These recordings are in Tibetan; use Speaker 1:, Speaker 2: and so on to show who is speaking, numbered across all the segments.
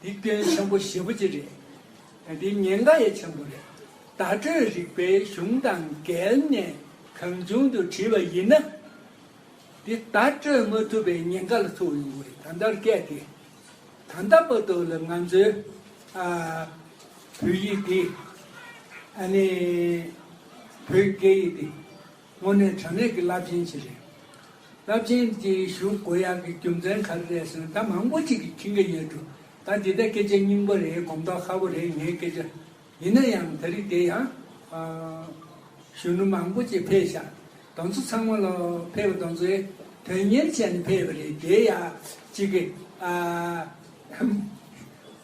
Speaker 1: འདི་སྐྱོན་ཆེན་པོ་བཞི་པོ་གཅིག་རེད། འདི་ཉེན་ཁ་ཡ་ཆེན་པོ་རེད། བརྡ་སྤྲོད་རིག་པའི་གཞུང་དང་འགལ་ནས་གང་བྱུང་དུ་བྲིས་པ་ཡིན་ན། འདི་བརྡ་སྤྲོད་མ་ཐུབ་པའི་ཉེན་ཁ་ལ་ཐུག་ཡོང་བས་ད་ལྟར་སྐད་དེ་ད་ལྟ་པ་དོ་ལ་ང་ཚོའི་བོད་ཡིག་འདི་ཨ་ནི་བོད་སྐད་ཡིག་འདི། སྔོན་ནས་དྲ་གནས་ཀྱི་རླབས་ཆེན་ཞིག་རེད། རླབས་ཆེན་དེ་ཞུ་དགོས་ཡག་གི་རྒྱུ་མཚན་ག་རེ་རེད་ཟེར་ན་ད་མང་པོ་ཅིག་གིས་མཁྱེན་གྱི་ཡོད་འདུག་ད་འདི་ལྟའི་སྐད་ཆ་སྙིང་པོ་རེད་གོམས་མདོག་ཧ་པོ་རེད་ངའི་སྐད་ཆ། ཡིན་ན་ཡང་ད་རིགས་དེ་ཡང། གཞོན་ནུ་མང་པོ་ཅིག་ཕེབས་ཤག་གདོང་ཚོ་ཚང་མ་ལ་ཕེབས་གདོང་ཚོའི་དོན་གཉེར་བྱས་ནས་ཕེབས་པ་རེད་དེ་ཡག་ཅིག་གི།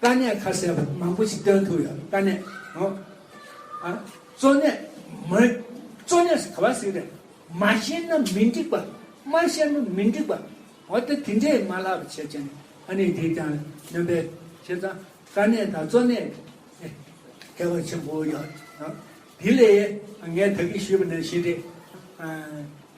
Speaker 1: དཀའ་གནད་ཁ་གསལ་བོ་མང་པོ་ཞིག་བཏོན་ཐུབ་ཡོད་དཀའ་གནད་ཨོ་ཨ། གཙོ་གནད་མི་གཙོ་གནད་ཟེར་ག་བ་ཞིག་རེད་མ་ཤེས་ན་མི་འགྲིག་པ་མ་ཤེས་ན་མི་འགྲིག་པ་འོ་དེ་དེ་འདྲས་མ་ལགས་པ་བྱས་བྱས་ནས་ཨ་ནི་དེ་ཀྱང་ནོན་པའི་བྱས་ཙང་དཀའ་གནད་དང་གཙོ་གནད་ཨེ་ཁྱད་པར་ཆེན་པོ་ཡོད་ཨོ་དེ་ལས་ངས་ད་གིས་ཞུས་པ་ནི་ཞེ་འདྲེ་ཨ།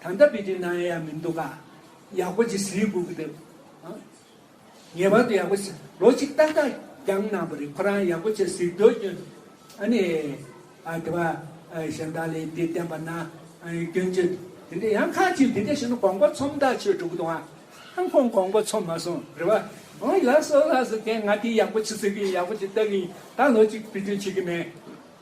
Speaker 1: ད་ལྟ་བི་ཏི་ནམ་ཡག་མི་འདུག་ག། ཡག་པོ་ཅིག་ཟིན་དགོས་ཀྱི་འདུག། ངེས་པར་དུ་ཡག་པོ་ཟིན། ལོ་གཅིག་ཏག་ཏག་འགྱངས་གནང་བ་རེད་ཁོ་རང་ཡག་པོ་ཆེ་ཟིག་འདོད་སྐྱོན། ཨ་ནི། ཨ་དེ་བ། གཞན་དག་ལས་འདི་བསྟན་པ་ན། སྐྱོན་བརྗོད། དེ་འདྲ་ཡང་ཁ་ཅིག་འདི་འདྲ་བྱས་ན་གོང་པ་ཚོམ་ཐག་ཆོད་འགྲོ་གི་འདུག་ཨང། ཁོང་གོང་པ་ཚོམ་མ་སོང་རེད་བ། ཨོ་ལགས་སོ་ལགས་སོ་དེ་ང་དེ་ཡག་པོ་ཆེ་ཟིག་གི་ཡག་པོ་ཆེ་ལྟ་གི་ཡིན་ད་ལོ་གཅིག་བི་ཏི་བྱེད་ཀྱི་མེད།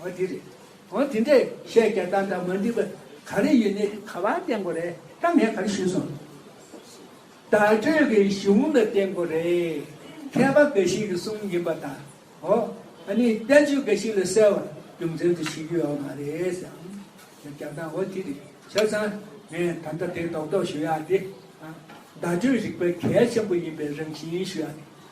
Speaker 1: འོན་དེ་རེད། འོན་དེ་འདྲས་བཤད་རྒྱ་དང་འདྲ་མ་འདི་པ་ག་རེ་ཡིན་ནི་ག་བ་བསྟན་དགོས་རེད་ད་ངས་ག་རེ་ཞུས་སོང། བརྡ་སྤྲོད་ཀྱི་གཞུང་ལ་བསྟན་དགོས་རེད་མཁས་པ་འགའ་ཞིག་གི་གསུང་ཡིན་པ་དང་འོ་ཨ་ནི་བསྟན་བཅོས་འགའ་ཞིག་ལ་གསལ་བ་རྒྱུ་མཚན་དུ་ཞུས་རྒྱུ་ཡོད་མ་རེད་ཟེར་ཨང་ཞེས་རྒྱ་དང་འོ་དེ་རེད་བཤད་ཙང་ངས་ད་ལྟ་དེ་རྡོག་རྡོག་ཞུ་ཡག་དེ། བརྡ་སྤྲོད་རིག་པའི་གལ་ཆེན་པོ་ཡིན་པའི་རང་བཞིན་ཞུ་ཡག་དེ།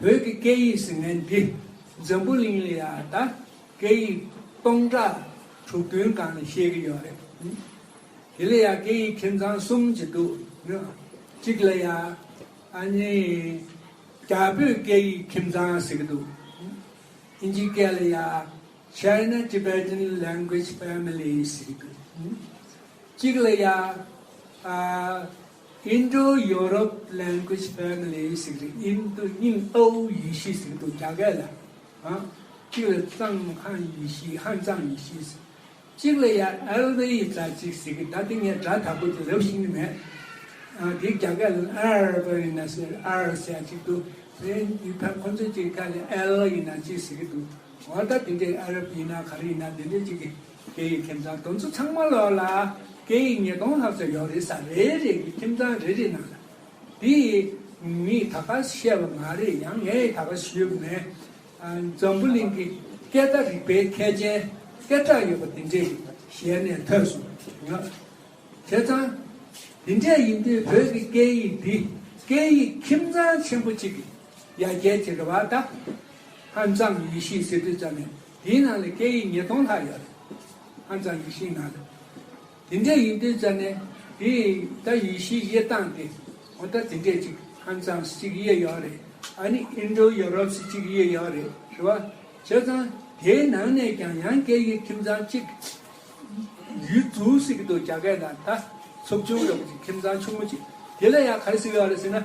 Speaker 1: བོད་ཀྱི་སྐད་ཡིག་ཟེར་མཁན་འདི་འཛམ་བུ་གླིང་ལ་ཡང་ད་སྐད་ཡིག་སྟོང་ཕྲག་དྲུག་བདུན་གང་ནས་བཤད་གི་ཡོད་རེད། དེ་ལ་ཡང་སྐད་ཡིག་ཁྱིམ་ཚང་གསུམ་ཅིག་འདུག་གཅིག་ལ་ཡང་ཨ་ནི་རྒྱ་བོད་སྐད་ཡིག་ཁྱིམ་ཚང་ཟེར་གི་འདུག་ཨིན་ཇི་སྐད་ལ་ཡང China Tibetan Language Family ཟེར་གི་འདུག་གཅིག་ལ་ཡང Indo-Europe Language Family ཞིག་རེད་ཨིན་དུ་རྙིང་ཨའུ་ཡི་ཤི་ཟིག་འདུག་རྒྱ་སྐད་ལ་གཅིག་ལ་ཙང་ཧན་ཡི་ཤི་ཧན་ཙང་ཡི་ཤི་ཟིག་གཅིག་ལ་ཡ་ཨལ་ཝེ་ཡི་ཙ་ཅིག་ཟིག་གི་ད་དེ་ངས་སྒྲ་དག་པོ་དེ་རབ་ཤེས་ཀྱི་མེད་ཨ་དེ་རྒྱ་སྐད་ལ་ཨར་བ་ཡི་ན་ཟེར་ཨར་ཟེར་ཡ་ཅིག་འདུག་དེ་ཡི་ཐ་ཁོ་ཚོ་ཅིག་ཁ་ལ་ཨལ་ཡི་ན་ཅིག་ཟིག་གི་འདུག་འོ་ད་དེ་འདྲའི་ཨ་རབ་ཡི་ན་ག་རེ་ཡི་ན་དེ་འདྲའི་ཅིག་གི། སྐད་ཡིག་ཁྱིམ་ཚང་དུམ་བུ་ཚང་མ་ལོགས་ལ་སྐད་ཡིག་ཉིས་སྟོང་ལྷག་ཙམ་ཡོད་རེད་ས་རེ་རེ་གི་ཁྱིམ་ཚང་རེ་རེ་ནང་ལ་དེ་ངས་ད་གར་བཤད་པ་མ་རེད་ཡང་ངས་ད་གར་ཞུས་པ་ནི་འཛམ་བུ་གླིང་གི་སྐད་བརྡ་རིག་པའི་མཁས་ཅན་སྐད་གྲགས་ཡོད་པ་དེ་འདྲས་ཞལ་ནས་ཐོས་སོང་ངོ། བྱས་ཙང་དེ་འདྲས་ཡིན་དུས་བོད་ཀྱི་སྐད་ཡིག་འདི་སྐད་ཡིག་ཁྱིམ་ཚང་ཆེན་པོ་གཅིག་གི་ཡ་གྱལ་གྱི་རེ་བ་ད་ཧ་ཅང་ཡིད་ཤེས་སེ་དུས་ཙམ་ནས་དེའི་ནང་ལས་སྐད་ཡིག་ཉིས་སྟོང་ལྷག་ཡོད་རེད། ཧ་ཅང་ཡིག་ཤིང་ནང་རེད། དེ་འདྲའི་ཡིག་འབྲི་བྱས་ནས་དེ་ད་ཡིག་ཤིག་དབྱེ་སྟངས་དེ་ངོ་ད་དེ་འདྲས་ཅིག་ཧན་ཙང་སི་ཅིག་དབྱེ་ཡོད་རེད་ཨ་ནི་ཨིན་ཏྲོ་ཡོ་རོབ་སི་ཅིག་དབྱེ་ཡོད་རེད་ཞུ་བ་བྱས་ཙང་དེའི་ནང་ནས་ཀྱང་ཡང་སྐད་ཡིག་ཁྱིམ་ཚང་གཅིག་ཡུལ་གྲུ་ཞིག་ཏུ་རྒྱ་སྐད་དང་ད་ཚུབ་ཆུང་རེ་བ་ཅིག་ཁྱིམ་ཚང་ཆུང་ངུ་ཅིག་དེ་ལ་ཡང་ག་རེ་ཟེར་ཡོད་རེད་ཟེར་ན།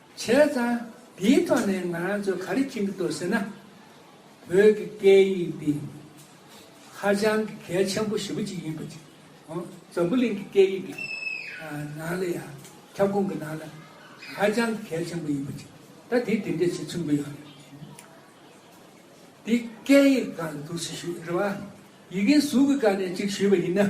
Speaker 1: བྱས་ཙང་དེའི་ཐོག་ནས་ང་རང་ཚོ་ག་རེ་མཁྱེན་གྱི་འདུག་ཟེར་ན། བོད་ཀྱི་སྐད་ཡིག་འདི་ཧ་ཅང་གི་གལ་ཆེན་པོ་ཞེ་པོ་ཅིག་ཡིན་པ་ཅིག་ཨོ་འཛམ་བུ་གླིང་གི་སྐད་ཡིག་གི་ནང་ལ་ཡང་ཁྱབ་ཁོངས་ཀྱི་ནང་ལ་ཧ་ཅང་གི་གལ་ཆེན་པོ་ཡིན་པ་ཅིག་ད་དེ་དེ་འདྲས་ཆེ་མཚོན་གྱི་ཡོད་དེ་སྐད་ཡིག་གང་དུ་འདུག་ཞེས་ཞུས་རེད་བ། ཡི་གེའི་གཟུགས་ཀྱི་སྒང་ནས་ཅིག་ཞུས་པ་ཡིན་ན།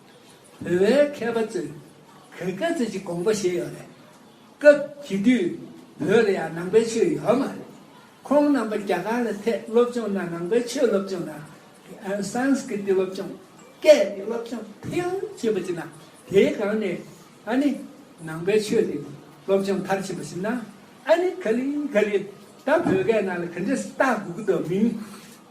Speaker 1: བོད་པའི་མཁས་པ་ཚོས་གོས་སྐལ་རྩོད་ཀྱི་དགོངས་པ་བཞེས་ཡོད་རེད། སྐབས་དེ་དུས་བོད་ལ་ཡང་ནང་པའི་ཆོས་ཡོད་མ་རེད། ཁོང་རྣམ་པ་རྒྱ་གར་ལ་ཐད་སློབ་སྦྱོང་ན་ནང་པའི་ཆོས་སློབ་སྦྱོང་དང། Sanskrit སློབ་སྦྱོང། སྐད་ཀྱི་སློབ་སྦྱོང་ཕལ་ཆེ་བ་བྱེད་ན་དེའི་སྒང་ནས་ཨ་ནི་ནང་པའི་ཆོས་དེ་སློབ་སྦྱོང་མཐར་ཕྱིན་པ་ཞིག་ན་ཨ་ནི་ག་ལི་ག་ལི་ད་བོད་སྐད་ནང་ལ་ག་འདྲས་བཏགས་དགོས་ཀྱི་འདུག་མིན།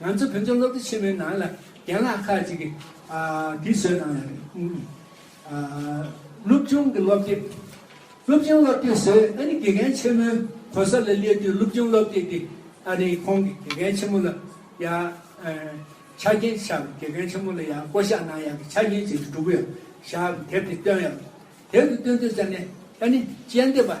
Speaker 1: ང་ཚོ་བོད་ལྗོངས་སློབ་གྲྭ་ཆེན་མོའི་ནང་ལ་རྒན་ལགས་ཁག་ཅིག་གིས་དུས་ཚོད་ནང་ལ་སློབ་ཆུང་གི་སློབ་དེབ་སློབ་ཆུང་སློབ་དེབ་བཟོས་ཨ་ནི་དགེ་རྒན་ཆེན་མོའི་གོ་ས་ལ་སླེབས་དུས་སློབ་ཆུང་སློབ་དེབ་དེ་ཨ་རིའི་ཁོང་གི་དགེ་རྒན་ཆེན་མོ་ལ་ཡ་ཆ་རྐྱེན་བྱ་བའི་དགེ་རྒན་ཆེན་མོ་ལ་ཡ་བསྐོ་བཞག་གནང་ཡ་གི་ཆ་རྐྱེན་བྱས་ཏེ་འགྲུབ་ཡ་བཞག་དེབ་དེ་བཏོན་ཡ་དེབ་དེ་བཏོན་དུས་ས་ནས་ཨ་ནི་དཔྱད་འདེབས་པ།